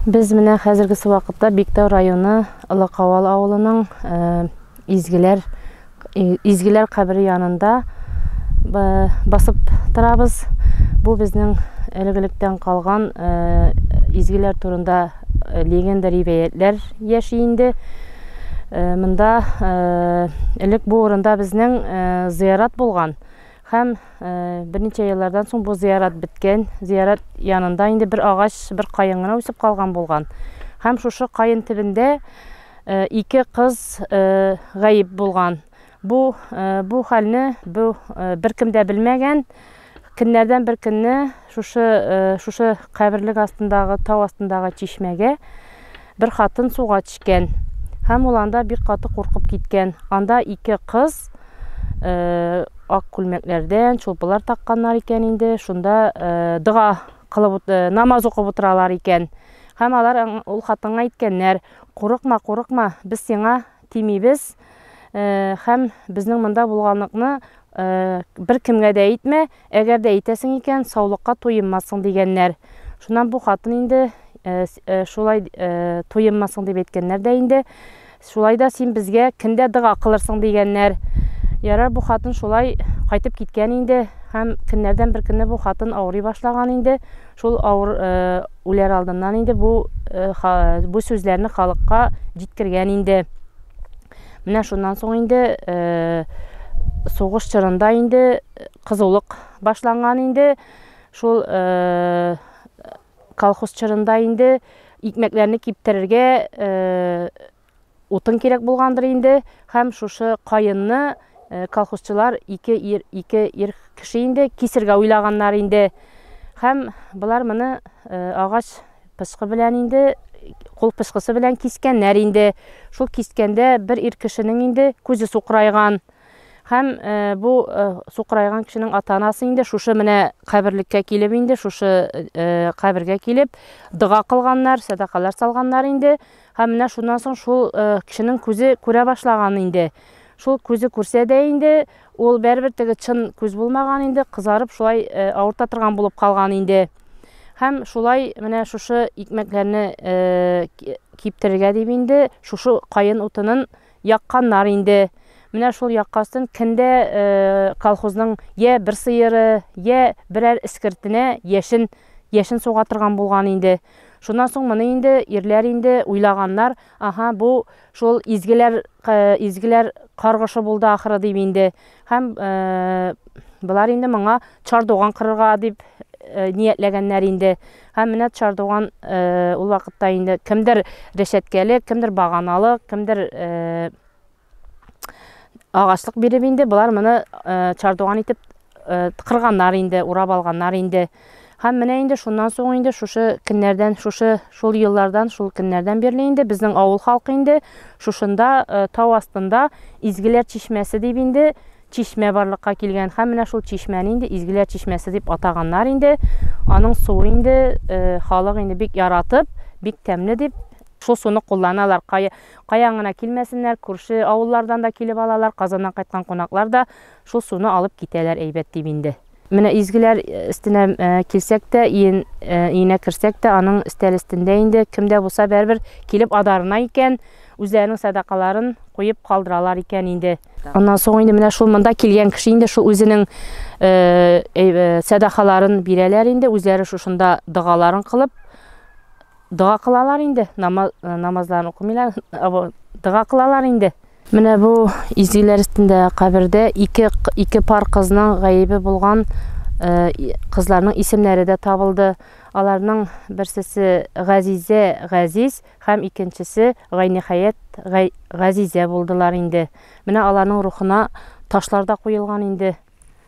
Без менә хәзергесе вакытта Биктау районы Лыкавал авылының э, изгеләр э, изгеләр кабере янында э, басып торабыз. Бу безнең элек-электән калган изгеләр турында легенда ривәятләр яши инде. Монда элек бу урында безнең зыярат булган. Һәм берничә еллардан соң бу зиярат беткән. Зиярат янында инде бер агач, бер каен гына үсеп калган булган. Һәм шушы каен төбендә ике кыз гаип булган. Бу бу хәлне бу беркем дә белмәгән. Көннәрдән бер көнне Шушы шушы каберлек астындагы тау астындагы чишмәгә бер хатын суга төшкән. Һәм ул анда бик каты куркып киткән. Анда ике кыз э, ак күлмәкләрдән, чулпылар такканнар икән инде. Шунда э, дога кылып э, намаз укып утыралар икән. Һәм алар ул хатынга әйткәннәр: "Курыкма, курыкма, без сиңа тимибез һәм безнең монда булганлыкны беркемгә дә әйтмә, әгәр дә әйтәсең икән, саулыкка туенмассың дигәннәр. Шуннан бу хатын инде шулай туенмассың дип әйткәннәр дә инде. Шулай да син безгә кемдә дога кылырсың дигәннәр. Ярар бу хатын шулай кайтып киткән инде һәм көннәрдән бер көнне бу хатын авырый башлаган инде. Шул авыр үләр алдыннан инде бу бу сүзләрне халыкка җиткергән инде. Менә шуннан соң инде сугыш чорында инде кызулык башланган инде. Шул колхоз чорында инде икмәкләрне киптерергә Утын кирәк булгандыр инде һәм шушы каенны колхозчылар ике ир, ике ир кеше инде кисергә уйлаганнар инде. Һәм болар моны агач пычкы белән инде кул пычкысы белән кискәннәр инде. Шул кискәндә бер ир кешенең инде күзе сукрайган. Һәм бу сукрайган кешенең ата-анасы инде шушы менә каберлеккә килеп инде шушы кабергә килеп дога кылганнар, садакалар салганнар инде. Һәм менә шуннан соң шул кешенең күзе күрә башлаган инде. Шул күзе күрсә дә инде, ул бәрбер теге чын күз булмаган инде, кызарып шулай авырта торган булып калган инде. Һәм шулай менә шушы икмәкләрне киптерергә дип инде шушы каен утынын якканнар инде. Менә шул яккастын киндә колхозның я бер сыеры, я берәр искертенә яшен яшен суга торган булган инде. Шуннан соң моны инде ирләр инде уйлаганнар, аһа, бу шул изгеләр, изгеләр каргышы булды ахыры дип инде. Һәм болар инде моңа чардуган кырырга дип ниятләгәннәр инде. Һәм менә чардуган ул вакытта инде кемдер рәшәткәле, кемдер баганалы, кемдер Агачлык биреп инде болар моны э, чардуган итеп э, кырганнар инде, урап алганнар инде. Һәм менә инде шуннан соң инде шушы көннәрдән, шушы шул еллардан, шул көннәрдән бирле инде безнең авыл халкы инде шушында э, тау астында Изгеләр чишмәсе дип инде чишмә барлыкка килгән. Һәм менә шул чишмәне инде Изгеләр чишмәсе дип атаганнар инде. Аның суы инде э, халык инде бик яратып, бик тәмле дип шул суны кулланалар. Кая Каян гына килмәсеннәр, күрше авыллардан да килеп алалар, Казаннан кайткан кунаклар да шул суны алып китәләр, әйбәт дим инде. Менә изгеләр өстенә килсәк тә, иен өенә керсәк тә, аның өстәл өстендә инде кем дә булса бәрбер килеп адарына икән, үзләренең сәдакаларын куеп калдыралар икән инде. Аннан соң инде менә шул монда килгән кеше инде шул үзенең сәдакаларын бирәләр инде, үзләре шушында догаларын кылып, Дога кылалар инде, намазларын укымыйлар, дога кылалар инде. Менә бу изгеләр өстендә кабердә ике, ике пар кызның гаебе булган кызларның исемнәре дә табылды. Аларның берсесе Газизә Газиз һәм икенчесе Гайнихаят Газизә булдылар инде. Менә аларның рухына ташлар да куелган инде.